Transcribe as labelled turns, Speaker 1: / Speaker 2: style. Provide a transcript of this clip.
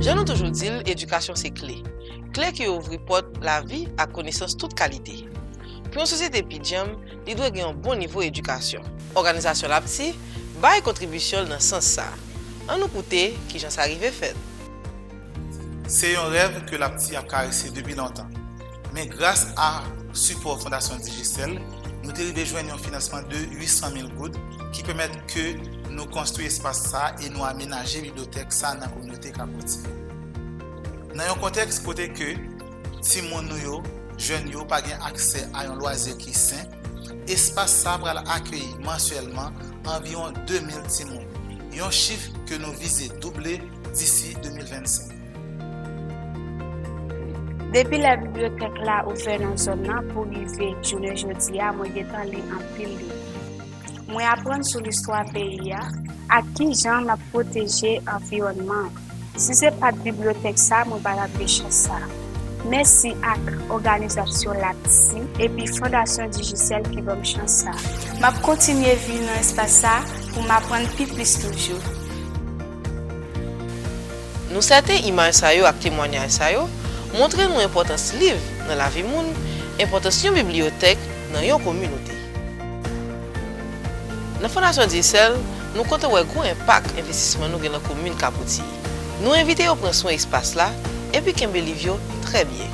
Speaker 1: Jan nou toujou di l, edikasyon se kle. Kle ki ouvri pòt lavi ak konesans tout kalite. Pou yon sosyete pi djanm, li dwe gen yon bon nivo edikasyon. Òganizasyon LAPTI bay kontribisyon l nan sans sa. An nou koute ki jan sa rive fèt.
Speaker 2: Se yon rèv ke LAPTI ap karese depi lontan. Men gras a sipò Fondasyon Digicel, nou te rive jwenn yon finansman de 800 mil goud ki pèmèt ke nou konstwi espas sa e nou amenaje bibliyotèk sa nan kominote Kapoutye. Nan yon kontèks kote ke timoun nou yo, jèn yo pa gen aksè a yon lwazi ki sen, espas sa pral akeyi mansyèlman anviwon 2 mil timoun, yon chif ke nou vize double disi 2025.
Speaker 3: Depi lè bibliyotèk la ouvè nan zòn nan pou rive jounen jodi a mwen gentan li anpil liv. Mwen aprann sou listwa peyi a ak ki jan n ap pwoteje anviwònman an. Si se pa t bibliyotèk sa mwen pa t ap gen chans sa. Mèsi ak òganizasyon LAPSI epi Fondasyon Digicel ki ban m chans sa. M ap kontinye vin nan espas sa pou m aprann pi plis toujou.
Speaker 1: Nou sèten imaj sa yo ak temwanyaj sa yo montre nou enpòtans liv nan lavi moun, enpòtans yon bibliyotèk nan yon kominote. Nan Fondasyon Dyesèl, nou kontan wè gwo enpak envestisman nou gen nan komin Kabouti. Nou envite yo pran swen espas la epi kenbe liv yo trè byen.